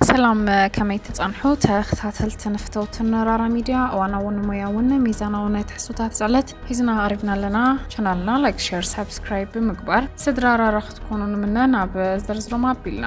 ሰላም ከመይ ትጸንሑ ተኸታተልትን ፍተውትን ራራ ሚድያ እዋናውን ሞያውን ሚዛናዊ ናይ ትሕዝቶታት ዝዕለት ሒዝና ቀሪብና ኣለና ቻናልና ላይክ ሸር ሳብስክራይብ ብምግባር ስድራ ራራ ክትኮኑ ንምነ ናብ ዝርዝሮም ኣቢልና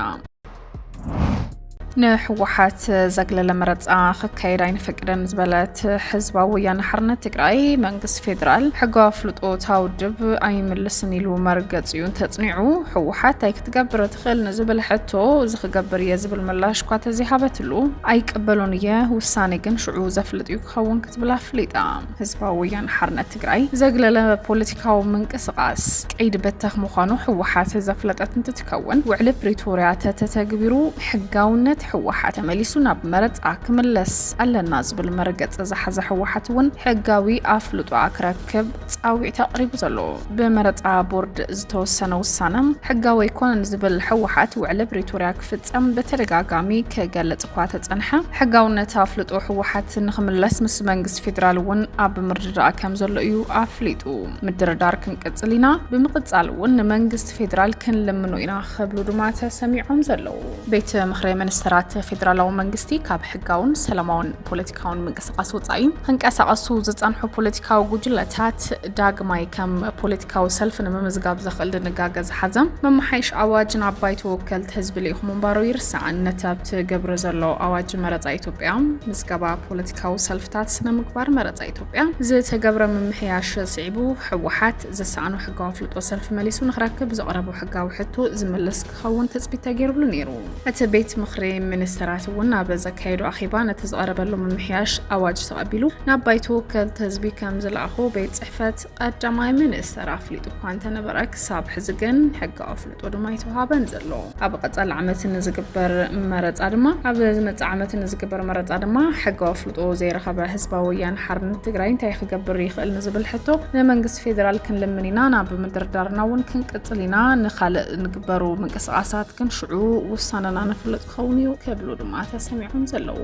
ንህወሓት ዘግለለ መረፃ ክካየድ ኣይንፈቅደን ዝበለት ህዝባዊ ወያነ ሓርነት ትግራይ መንግስቲ ፌዴራል ሕጋዊ ኣፍልጦ እታ ውድብ ኣይምልስን ኢሉ መርገፂኡ እንተፅኒዑ ህወሓት እንታይ ክትገብር ይኽእል ንዝብል ሕቶ እዚ ክገብር እየ ዝብል ምላሽ እኳ ተዘይሃበትሉ፣ ኣይቅበሎን እየ ውሳኔ ግን ሽዑ ዘፍልጥ እዩ ክኸውን ክትብል ኣፍሊጣ። ህዝባዊ ወያነ ሓርነት ትግራይ ዘግለለ ፖለቲካዊ ምንቅስቓስ ቀይዲ በተኽ ምዃኑ ህወሓት ዘፍለጠት እንትትከውን፣ ውዕሊ ፕሪቶርያ ተተተግቢሩ ሕጋውነት ህወሓት ተመሊሱ ናብ መረፃ ክምለስ ኣለና ዝብል መርገፂ ዝሓዘ ህወሓት እውን ሕጋዊ ኣፍልጦኣ ክረክብ ክብ ፃዊዕት ኣቕሪቡ ዘሎ ብመረፃ ቦርድ ዝተወሰነ ውሳነ ሕጋዊ ኣይኮነን ዝብል ሕወሓት ውዕሊ ብሪቶርያ ክፍፀም ብተደጋጋሚ ክገልፅ እኳ ተፀንሐ ሕጋውነት ኣፍልጦ ሕወሓት ንክምለስ ምስ መንግስቲ ፌዴራል እውን ኣብ ምርድዳእ ከም ዘሎ እዩ ኣፍሊጡ። ምድርዳር ክንቅፅል ኢና፣ ብምቕፃል እውን ንመንግስቲ ፌዴራል ክንልምኖ ኢና ክብሉ ድማ ተሰሚዖም ዘለዉ። ቤት ምክሪ ሚኒስተራት ፌዴራላዊ መንግስቲ ካብ ሕጋውን ሰላማውን ፖለቲ ካውን ምንቅስቃስ ወፃኢ ክንቀሳቀሱ ዝፀንሑ ፖለቲካዊ ጉጅለታት ዳግማይ ከም ፖለቲካዊ ሰልፊ ንምምዝጋብ ዘኽእል ድንጋገ ዝሓዘ መመሓይሽ ኣዋጅ ናብ ባይቶ ወከልቲ ህዝቢ ልኢኹ ምንባሩ ይርሳዕን ነቲ ኣብቲ ገብሪ ዘሎ ኣዋጅ መረፃ ኢትዮጵያ ምዝገባ ፖለቲካዊ ሰልፍታት ስነ ምግባር መረፃ ኢትዮጵያ ዝተገብረ ምምሕያሽ ስዒቡ ህወሓት ዘሰኣኖ ሕጋዊ ኣፍልጦ ሰልፊ መሊሱ ንክረክብ ዘቕረቦ ሕጋዊ ሕቶ ዝምልስ ክኸውን ትጽቢት ተገይሩሉ ነይሩ። እቲ ቤት ምኽሪ ሚኒስተራት እውን ኣብ ዘካየዶ ኣኼባ ነቲ ዝቐረበሉ ምምሕያሽ ኣዋጅ ተቐቢሉ ናብ ባይቶ ወከልቲ ህዝቢ ከም ዝለኣኾ ቤት ጽሕፈት ቀዳማይ ሚኒስተር ኣፍሊጡ እኳ እንተነበረ ክሳብ ሕዚ ግን ሕጋዊ ኣፍልጦ ድማ ኣይተውሃበን ዘሎ። ኣብ ቀጻሊ ዓመት ንዝግበር መረጻ ድማ ኣብ ዝመጽእ ዓመት ንዝግበር መረጻ ድማ ሕጋዊ ኣፍልጦ ዘይረኸበ ህዝባዊ ወያነ ሓርነት ትግራይ እንታይ ክገብር ይኽእል ንዝብል ሕቶ ንመንግስቲ ፌዴራል ክንልምን ኢና ናብ ምድርዳርና እውን ክንቅ ጽሊና ንካልእ ንግበሩ ምንቅስቓሳት ግን ሽዑ ውሳነና ንፍልጥ ክኸውን እዩ ክብሉ ድማ ተሰሚዖም ዘለዉ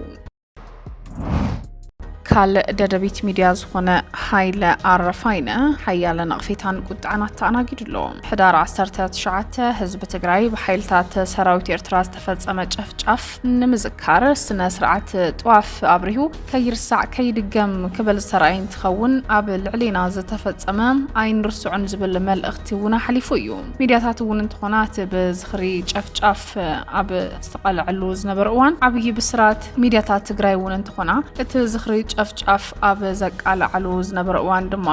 ካልእ ደደቢት ሚድያ ዝኾነ ሃይለ ኣረፋይነ ሓያለ ነቕፌታን ቁጥዐን ኣተኣናጊዱ ኣሎ። ሕዳር 19 ህዝቢ ትግራይ ብሓይልታት ሰራዊት ኤርትራ ዝተፈጸመ ጨፍጫፍ ንምዝካር ስነ ስርዓት ጥዋፍ ኣብሪሁ ከይርሳዕ ከይድገም ክብል ዝተራእየ እንትኸውን፣ ኣብ ልዕሌና ዝተፈፀመ ኣይንርስዖን ዝብል መልእኽቲ እውን ኣሕሊፉ እዩ። ሚድያታት እውን እንትኾና እቲ ብዝኽሪ ጨፍጫፍ ኣብ ዝተቓለዐሉ ዝነበረ እዋን ዓብዪ ብስራት፣ ሚድያታት ትግራይ እውን እንትኾና እቲ ዝኽሪ ጨፍጫፍ ኣብ ዘቃለዓሉ ዝነበረ እዋን ድማ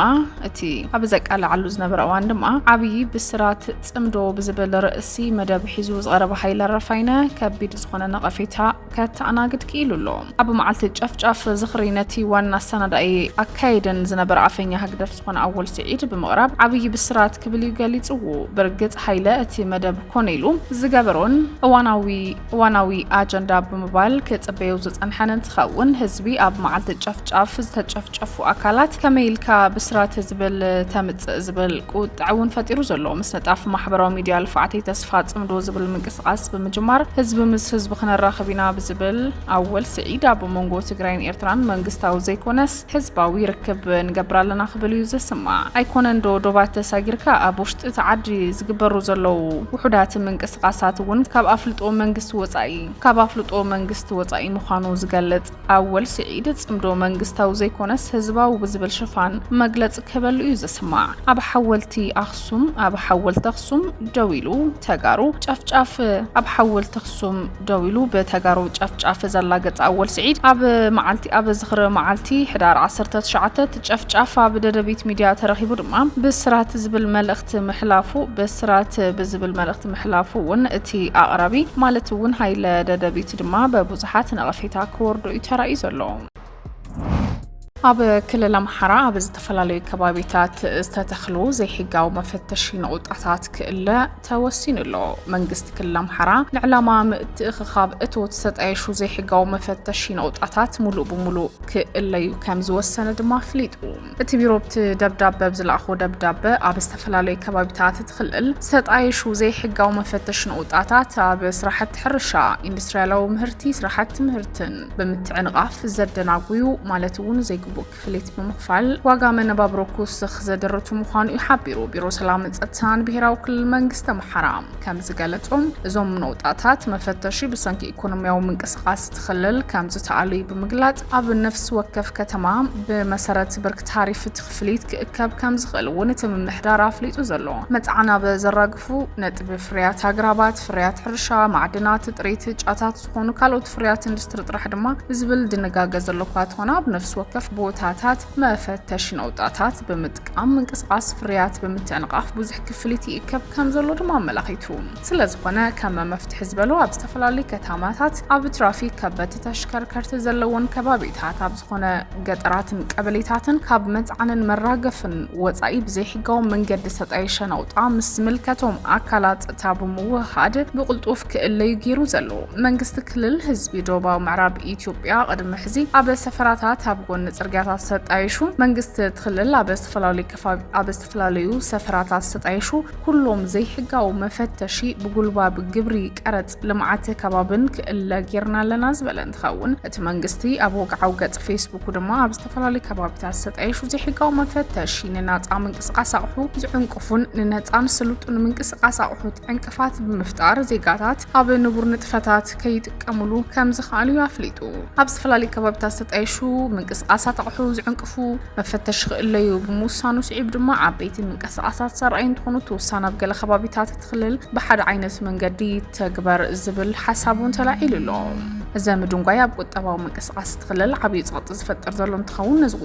እቲ ኣብ ዘቃለዓሉ ዝነበረ እዋን ድማ ዓብዪ ብስራት ፅምዶ ብዝብል ርእሲ መደብ ሒዙ ዝቐረበ ሃይለ ኣረፋይነ ከቢድ ዝኾነ ነቐፌታ ከተኣናግድ ክኢሉ ኣሎ። ኣብ መዓልቲ ጨፍጫፍ ዝኽሪ ነቲ ዋና ኣሰናዳኢ ኣካየደን ዝነበረ ኣፈኛ ህግደፍ ዝኾነ ኣወል ስዒድ ብምቕራብ ዓብዪ ብስራት ክብል እዩ ገሊጽዎ። ብርግጽ ሃይለ እቲ መደብ ኮነ ኢሉ ዝገበሮን እዋናዊ እዋናዊ ኣጀንዳ ብምባል ክጽበዮ ዝጸንሐን እንትኸውን ህዝቢ ኣብ መዓልቲ ጨፍጫፍ ዝተጨፍጨፉ ኣካላት ከመይ ኢልካ ብስራት ዝብል ተምጽእ ዝብል ቁጥዐ እውን ፈጢሩ ዘሎ ምስንጣፍ ማሕበራዊ ሚዲያ ልፍዓተይ ተስፋ ኣፅምዶ ዝብል ምንቅስቓስ ብምጅማር ህዝቢ ምስ ህዝቢ ክነራኽብ ኢና ብዝብል ኣወል ስዒድ ኣብ መንጎ ትግራይን ኤርትራን መንግስታዊ ዘይኮነስ ህዝባዊ ርክብ ንገብር ኣለና ክብል እዩ ዝስማዕ። ኣይኮነን ዶ ዶባት ተሳጊርካ ኣብ ውሽጢ እቲ ዓዲ ዝግበሩ ዘለዉ ውሑዳት ምንቅስቓሳት እውን ካብ ኣፍልጦ መንግስቲ ወፃኢ ካብ ኣፍልጦ መንግስቲ ወፃኢ ምዃኑ ዝገልፅ ኣወል ስዒድ ጽምዶ መንግስታዊ ዘይኮነስ ህዝባዊ ብዝብል ሽፋን መግለጺ ክህበሉ እዩ ዝስማዕ። ኣብ ሓወልቲ ኣኽሱም ኣብ ሓወልቲ ኣኽሱም ደው ኢሉ ተጋሩ ጨፍጫፍ ኣብ ሓወልቲ ኣኽሱም ደው ኢሉ ብተጋሩ ጨፍጫፍ ዘላገጸ ኣወል ስዒድ ኣብ መዓልቲ ኣብ ዝኽሪ መዓልቲ ሕዳር 19 ጨፍጫፍ ኣብ ደደቢት ሚድያ ተረኺቡ ድማ ብስራት ዝብል መልእኽቲ ምሕላፉ ብስራት ብዝብል መልእኽቲ ምሕላፉ እውን እቲ ኣቕራቢ ማለት እውን ሃይለ ደደቢት ድማ ብዙሓት ነቐፌታ ክወርዶ እዩ ተራእዩ ዘሎ። ኣብ ክልል ኣምሓራ ኣብ ዝተፈላለዩ ከባቢታት ዝተተኽሉ ዘይሕጋዊ መፈተሺ ነቑጣታት ክእለ ተወሲኑ ኣሎ። መንግስቲ ክልል ኣምሓራ ንዕላማ ምትእኽኻብ እቶት ዝተጣየሹ ዘይሕጋዊ መፈተሺ ነቑጣታት ሙሉእ ብሙሉእ ክእለዩ ከም ዝወሰነ ድማ ኣፍሊጡ። እቲ ቢሮ ኣብቲ ደብዳበ ኣብ ዝለኣኾ ደብዳበ ኣብ ዝተፈላለዩ ከባቢታት እቲ ክልል ዝተጣየሹ ዘይሕጋዊ መፈተሺ ንኡጣታት ኣብ ስራሕቲ ሕርሻ፣ ኢንዱስትሪያላዊ ምህርቲ፣ ስራሕቲ ምህርትን ብምትዕንቓፍ ዘደናጉዩ ማለት እውን ዘይግቡእ ክፍሊት ብምኽፋል ዋጋ መነባብሮ ክውስኽ ዘደርቱ ምዃኑ እዩ ሓቢሩ ቢሮ ሰላምን ፀጥታን ብሄራዊ ክልል መንግስቲ ኣምሓራ። ከም ዝገለጾ፣ እዞም ነቑጣታት መፈተሺ ብሰንኪ ኢኮኖሚያዊ ምንቅስቓስ እቲ ክልል ከም ዝተኣልዩ ብምግላጽ፣ ኣብ ነፍሲ ወከፍ ከተማ ብመሰረት ብርኪ ታሪፍ እቲ ክፍሊት ክእከብ ከም ዝኽእል እውን እቲ ምምሕዳር ኣፍሊጡ ዘሎ መጽዓን ኣብ ዘራግፉ ነጥቢ ፍርያት ኣግራባት፣ ፍርያት ሕርሻ፣ ማዕድናት፣ ጥሪት ጫታት ዝኾኑ ካልኦት ፍርያት ኢንዱስትሪ ጥራሕ ድማ ብዝብል ድንጋገ ዘሎ እኳ ተኾነ ኣብ ነፍሲ ወከፍ ቦታታት መፈተሺ ነቑጣታት ብምጥቃም ኣብ ምንቅስቓስ ፍርያት ብምትዕንቓፍ ብዙሕ ክፍሊት ይእከብ ከም ዘሎ ድማ ኣመላኺቱ። ስለ ዝኾነ ከም መፍትሒ ዝበሎ ኣብ ዝተፈላለዩ ከተማታት ኣብ ትራፊክ ከበድቲ ተሽከርከርቲ ዘለዎን ከባቢታት ኣብ ዝኾነ ገጠራትን ቀበሌታትን ካብ መፅዓንን መራገፍን ወፃኢ ብዘይሕጋዊ መንገዲ ዝተጣየሸ ናውጣ ምስ ዝምልከቶም ኣካላት ፀጥታ ብምውህሃድ ብቕልጡፍ ክእለዩ ገይሩ ዘሎ መንግስቲ ክልል ህዝቢ ዶባዊ ምዕራብ ኢትዮጵያ ቅድሚ ሕዚ ኣብ ሰፈራታት ኣብ ጎኒ ጽርግያታት ሰጣይሹ መንግስቲ እቲ ክልል ኣብ ዝተፈላለዩ ከባቢ ኣብ ዝተፈላለዩ ሰፈራታት ሰጣይሹ ኩሎም ዘይሕጋዊ መፈተሺ ብጉልባብ ግብሪ ቀረጽ ልምዓት ከባብን ክእለ ጌርና ኣለና ዝበለ እንትኸውን እቲ መንግስቲ ኣብ ወግዓዊ ገጽ ፌስቡኩ ድማ ኣብ ዝተፈላለዩ ከባቢታት ሰጣይሹ ዘይሕጋዊ መፈተሺ ንናጻ ምንቅስቓስ ኣቕሑ ዝዕንቅፉን ንነጻን ስሉጡን ምንቅስቓስ ኣቕሑት ዕንቅ ዕንቅፋት ብምፍጣር ዜጋታት ኣብ ንቡር ንጥፈታት ከይጥቀሙሉ ከምዝኸኣሉ እዩ ኣፍሊጡ። ኣብ ዝተፈላለዩ ከባቢታት ዝተጣየሹ ምንቅስቓሳት ኣቕሑ ዝዕንቅፉ መፈተሺ ክእለዩ ብምውሳኑ ስዒቡ ድማ ዓበይቲ ምንቅስቓሳት ዘርኣዩ እንትኾኑ እቲ ውሳነ ኣብ ገለ ከባቢታት እቲ ክልል ብሓደ ዓይነት መንገዲ ይተግበር ዝብል ሓሳብ እውን ተላዒሉ ኣሎ። እዚ ምድንጓይ ኣብ ቁጠባዊ ምንቅስቓስ እቲ ክልል ዓብዪ ፀቕጢ ዝፈጥር ዘሎ እንትኸውን ነዚ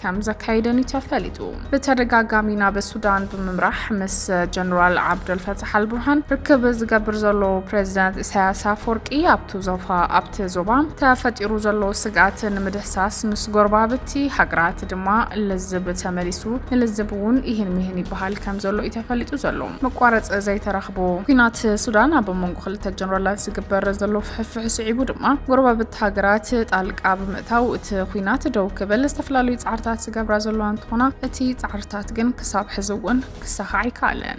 ከም ዘካይደን'ዩ ተፈሊጡ። ብተደጋጋሚ ናብ ሱዳን ብምምራሕ ምስ ጀነራል ዓብደልፈታሕ ኣልቡርሃን ርክብ ዝገብር ዘሎ ፕረዚደንት ኢሳያስ ኣፍወርቂ ኣብቲ ዞፋ ኣብቲ ዞባ ተፈጢሩ ዘሎ ስግኣት ንምድህሳስ ምስ ጎረባብቲ ሃገራት ድማ ልዝብ ተመሊሱ ንልዝብ እውን ኢህን ሚህን ይበሃል ከም ዘሎ'ዩ ተፈሊጡ ዘሎ። መቋረጺ ዘይተረኽቦ ኲናት ሱዳን ኣብ መንጎ ክልተ ጀነራላት ዝግበር ዘሎ ፍሕፍሕ ስዒቡ ድማ ጎረባብቲ ሃገራት ጣልቃ ታው እቲ ኹናት ደው ክብል ዝተፈላለዩ ፃዕርታት ዝገብራ ዘለዋ እንትኾና እቲ ፃዕርታት ግን ክሳብ ሕዚ እውን ክሳኻዕ ኣይከኣለን።